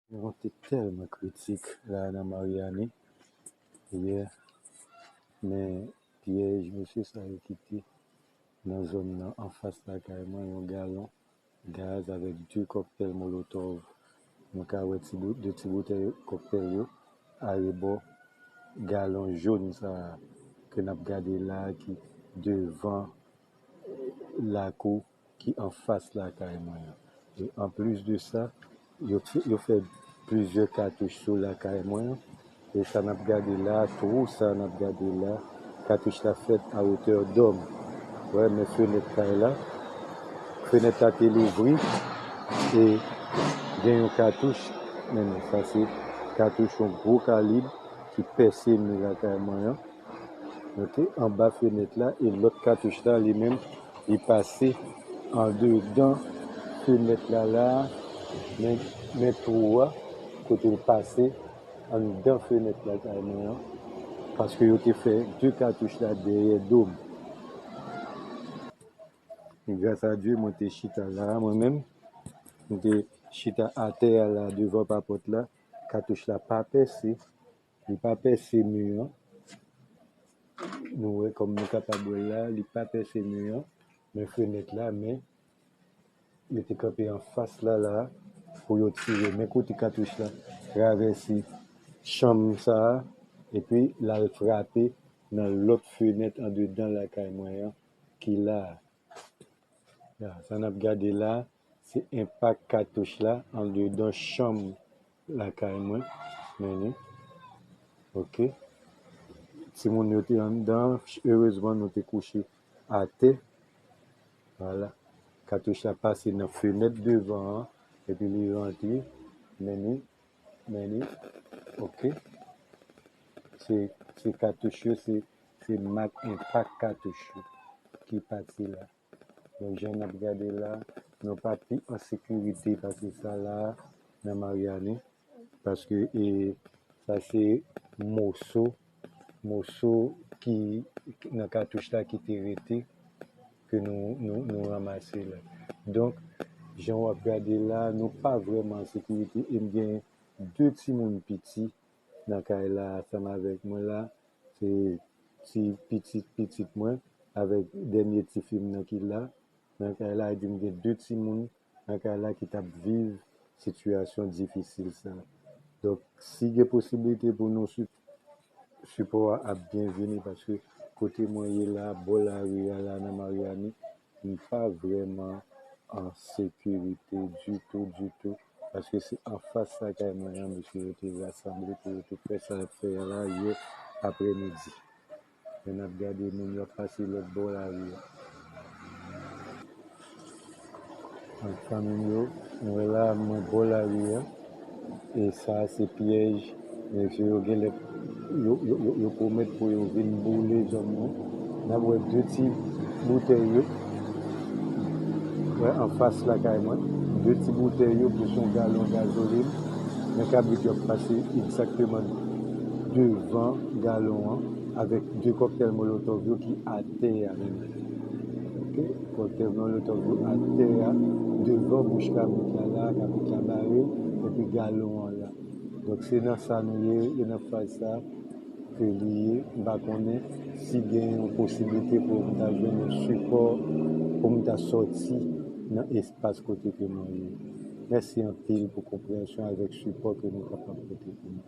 Yon vant te tèlman kritik la nan Maryani yè men pyèj mesye sa yo kite nan zòn nan anfas lakay mwen yon galon gaz avèk 2 kòktèl molotòv nou ka wè ti bout 2 ti boutèy kòktèl yo arebò galon jón sa ke nap gade la ki devan lakou ki anfas lakay mwen an. E anplis de sa, yo yo fè plizyè katouch sou lakay mwen an. E sa n ap gade la a, twou sa a n ap gade la a, katouch la fèt a wotè dòm. Wè men fenèt kay la, fenèt la te louvri e gen yon katouch, men non sa se katouch yon gwo kalib ki pèse mi lakay mwen an. ok anba fenèt la e lòt katouch la li menm li pase andedan fenèt la la men men twou a kote l pase anndan fenèt la kay mwen an paske yo te fè 2 katouch la dèyè do m gras a Dye mwen te chita la a mwen menm m te chita atè a la devan papòt la katouch la pa pèse Li pa pèse mi an. Nou wè kòm nou kapab wè l la, li pa pèse mi an, men fenèt la, men yo te kanpe anfas la la a pou yo tire. Men kote katouch la travèse chanm sa a epi l al frape nan lòt fenèt andedan lakay mwen an ki la a. Ya, sa n ap gade la a, se enpak katouch la andedan chanm lakay mwen. Men ni. Ok. Timoun yo te anndan an. Erezman nou te kouche atè. Wala. Katouch la pase nan fenèt devan an epi li rantre. Men ni. Many ok se katouch yo se mak enpak katouch yo ki pati la bon jan nap gade la nou pa pi an sekirite pase sa la nan maryani paske sa se moso moso ki nan katouch la ki te rete ke nou ranmase la. Donk, jan wap gade la, nou pa vreman an sekirite e m gen 2 timoun piti nan kay la ansanm avèk mwen la, se ti pitit pitit mwen avèk dènye tifi m nan ki la nan kay la, epi m gen 2 timoun. lakay la ki tap viv sitiyasyon difisil sa. Donk si gen posibilite pou nou sip sipò a ap byen vini paske kote mwen ye la bò lari a la nan Maryani m pa vrèman an sekirite ditou ditou paske se anfas lakay mwen an mesye yo te rasanble pou yo te fè sa y ap fè a la yè aprèmidi. Epi nap gade moun yo ap pase lòt bò lari a. An fanmim yo, nou wè la mwen bò lari a e sa se pyèj nèg yo yo genlè yo yo yo yo pwomèt pou yo vin boule zòn nan. Nap wè 2 ti boutèy yo wè anfas lakay mwen. 2 ti boutèy yo pou son galon gazolin. Men kabrit yo ap pase egzakteman devan. galon an avèk 2 kòktèl molotòv yo ki atè a menm ok kòktèl molotòv yo atè a devan bouch kabrit la la kabrit la bare epi galon an la donk se nan sa nou ye e nan faz sa ke li ye m pa konnen si gen yon posiblite pou m ta jwenn yon sipò pou m ta sòti nan espas kote ke mwen ye mèsi anpil pou konpreyansyon avèk sipò ke nou kapab pote pou mwen.